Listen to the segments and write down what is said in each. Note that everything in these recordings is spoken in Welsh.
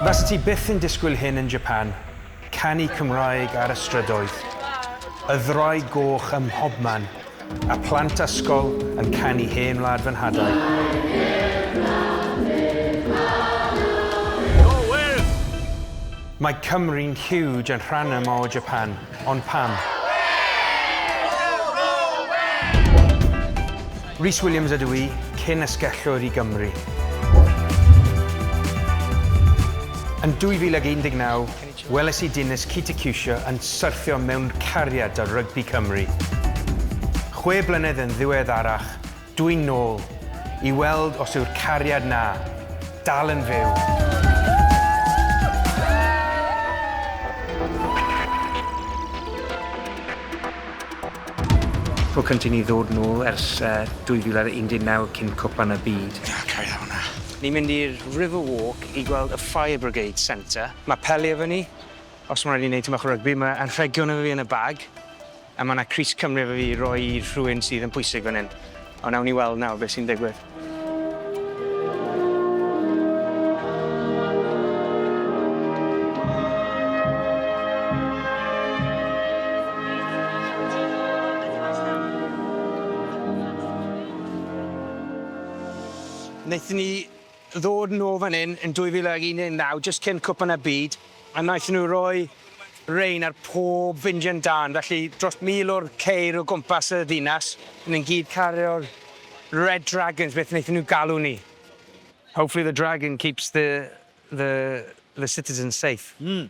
Fyset ti byth yn disgwyl hyn yn Japan, canu Cymraeg ar y strydoedd, y ddraig goch ym mhobman, a phlant ysgol yn canu Hen Wlad fy Nhadau. Mae Cymru'n huge yn rhan yma o Japan. Ond pam? Rhys Williams ydw i, cyn asgellwr i Gymru. Yn 2019, weles i Dinis Kitikusha yn syrthio mewn cariad â rygbi Cymru. Chwe blynedd yn ddiweddarach, Dwi'n nôl, i weld os yw'r cariad 'na dal yn fyw! Tro cynta i ni ddod nôl ers 2019 cyn Cwpan y Byd. Ia, cau â hwnna. Ni'n mynd i'r River Walk i gweld y Fire Brigade Centre. Mae peli efo ni, os mae'n rhaid i ni wneud tymor rygbi, mae anrhegion efo fi yn y bag. A mae 'na crys Cymru efo fi i roi i rhywun sydd yn pwysig fan hyn. Ond awn ni weld nawr beth sy'n digwydd. Wnaethon ni ddod nôl fan hyn yn 2019 jyst cyn Cwpan y Byd a wnaethon nhw roi rein ar pob fyndiant dân, felly dros 1,000 o'r ceir o gwmpas y ddinas yn gyd cario'r Red Dragons, beth wnaethon nhw galw ni. Hopefully the dragon keeps the the the citizens safe. Mm.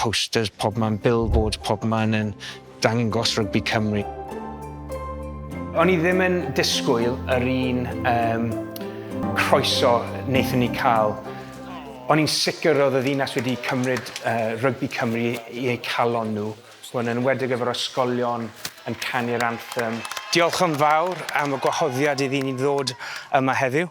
Posters pobman, billboards pobman yn dangos rygbi Cymru. O'n i ddim yn disgwyl yr un um, croeso wnaethon ni cael. O'n i'n sicr roedd y ddinas wedi cymryd uh, rygbi Cymru i eu calon nhw. Hwn yn wedig efo'r ysgolion yn canu'r anthem. Diolch yn fawr am y gwahoddiad i ddyn i ddod yma heddiw.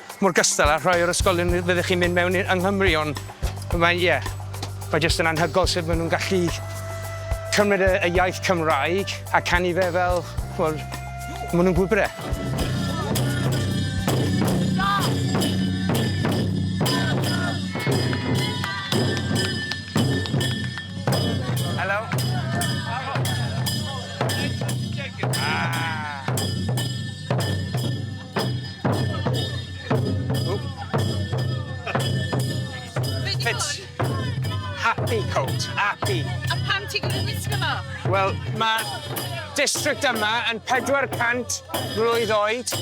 Mor gystal â rhai o'r ysgolion fyddech chi'n mynd mewn yng Nghymru, ond mae, ie, mae jyst yn anhygoel sut maen nhw'n gallu cymryd y, y iaith Cymraeg a canu fe fel, chimod, maen nhw'n gwybod e. Fits. Happy coat, happy. A pam ti'n gwneud wisgo fo? Wel, mae district yma yn 400 mlwydd oed,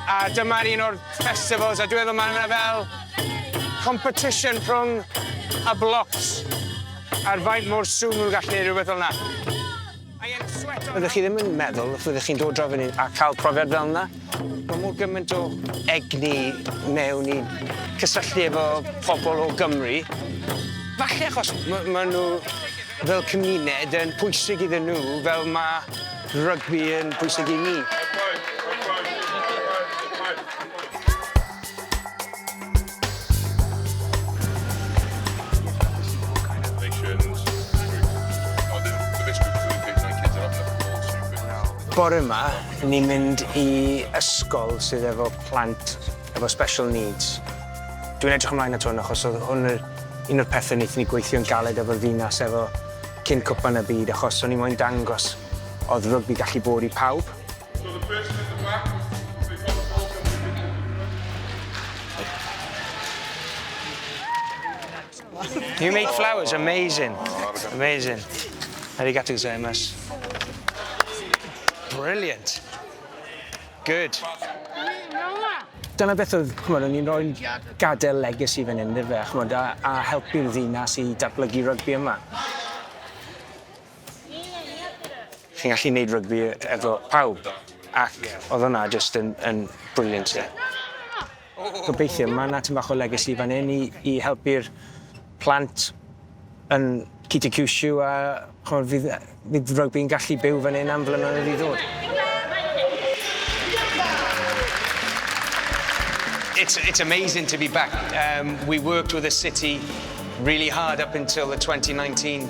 a dyma'r un o'r festivals, a dwi'n meddwl mae yna fel competition rhwng y blocs ar faint mor sŵn nhw'n gallu neud rhywbeth fel yna. Fyddech chi ddim yn meddwl y fyddech chi'n dod draw fan 'yn a ca'l profiad fel 'na. Ma' mor gyment o egni mewn i cysylltu efo pobol o Gymru. Falle achos ma' ma' nw fel cymuned yn pwysig iddyn nw fel ma' rygbi yn pwysig i ni. Bore yma, ni'n mynd i ysgol sydd efo plant efo special needs. Dwi'n edrych ymlaen at hwn achos oedd hwn yr un o'r pethe wnaethon ni gweithio'n galed efo'r ddinas efo cyn cwpan y byd achos o'n i moyn dangos oedd rygbi gallu bod i pawb. You make flowers amazing. Amazing. Arigato gozaimasu. Brilliant. Good. Dyna beth oedd, chymod, o'n i'n rhoi gadael legacy fan hyn, fe, chymod, a, a helpu'r ddinas i datblygu rygbi yma. Chi'n gallu neud rygbi efo pawb ac odd wnna jyst yn yn brilliant 'de. Gobeithio ma' 'na tym bach o legacy fan 'yn i i helpu'r plant yn City Cushu a ch'mod fydd yy fydd rygbi'n gallu byw fan 'yn am flynyddoedd i ddod. It's it's amazing to be back yym we worked with the city really hard up until the twenty nineteen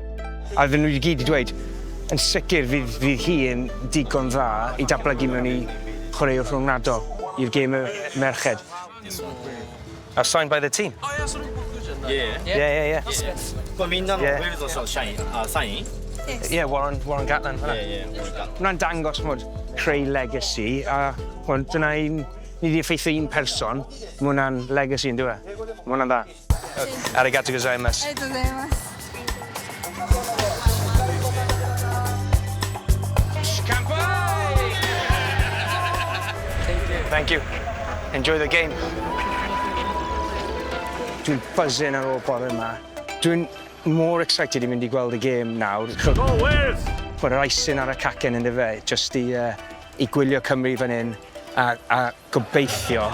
A oedden nhw i gyd 'di dweud, yn sicr fydd, fydd hi yn digon dda i datblygu mewn i chwaraewr rhyngwladol i'r gêm y merched. A signed by the team? Oh yeah, so nhw'n gwybod Christian? Ie. Ie, ie, ie. Ie. Wel, fi'n dal yn gwybod os oedd Shine, a Shiny. Ie, Warren, Warren Gatland, fanna. Ie, ie, Warren Gatland. Hwna'n dangos, chmod, creu legacy, a chmod, dyna un, ni wedi effeithio un person, mae hwnna'n legacy, yn dyw e? Mae hwnna'n dda. Arigato gozaimasu. Arigato gozaimasu. Thank you. Enjoy the game. Dwi'n buzzing ar ôl bore yma. Dwi'n more excited i fynd i gweld y gêm nawr. Go Wales! Mae'r icing ar y cacen yn dy fe, jyst i, uh, i gwylio Cymru fan hyn a, a Gobeithio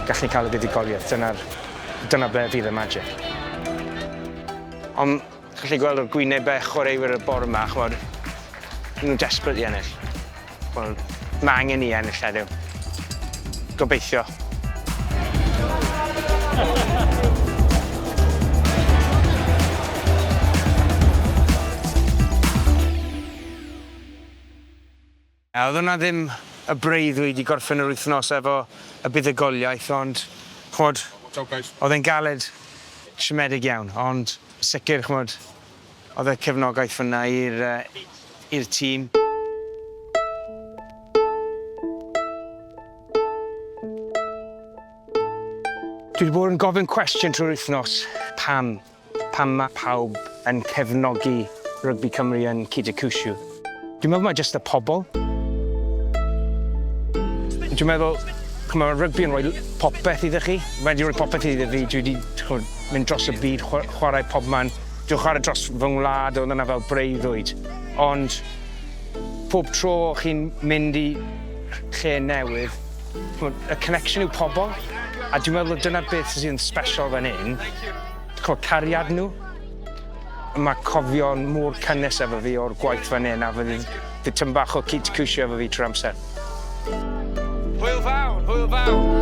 gallen ni cael y fuddugoliaeth, dyna'r... dyna ble fydd y magic. Ond chi'n gallu gweld ar gwynebau chwaraewyr y bore yma, chimod, maen nhw'n desperate i ennill. Wel, mae angen ni ennill heddiw. Gobeithio. A oedd hwnna ddim y breuddwyd i gorffen yr wythnos efo y buddugoliaeth ond ch'mod oedd e'n galed siomedig iawn ond sicr ch'mod oedd y cefnogaeth fynna i'r yy i'r tîm. Dwi 'di bod yn gofyn cwestiwn trwy'r wythnos, pam? Pam mae pawb yn cefnogi Rygbi Cymru yn Kitakyushu? Dwi'n meddwl mae jyst y pobl. Dwi'n meddwl, ch'mo' ma' rygbi yn rhoi popeth iddo chi. Mae 'di rhoi popeth iddo fi, dwi 'di ch'mod mynd dros y byd chwa- chwarae pobman. Dwi'n chwarae dros fy ngwlad, o'dd yna fel breuddwyd. Ond pob tro chi'n mynd i lle newydd, Ch'mod, y connection yw pobol, a dwi'n meddwl dyna beth sydd yn special fan hyn, ch'mod cariad nhw. Mae cofio'n mor cynnes efo fi o'r gwaith fan hyn a fydd bydd tym bach o cyd cwsio efo fi trwy'r amser. Hwyl fawr, hwyl fawr!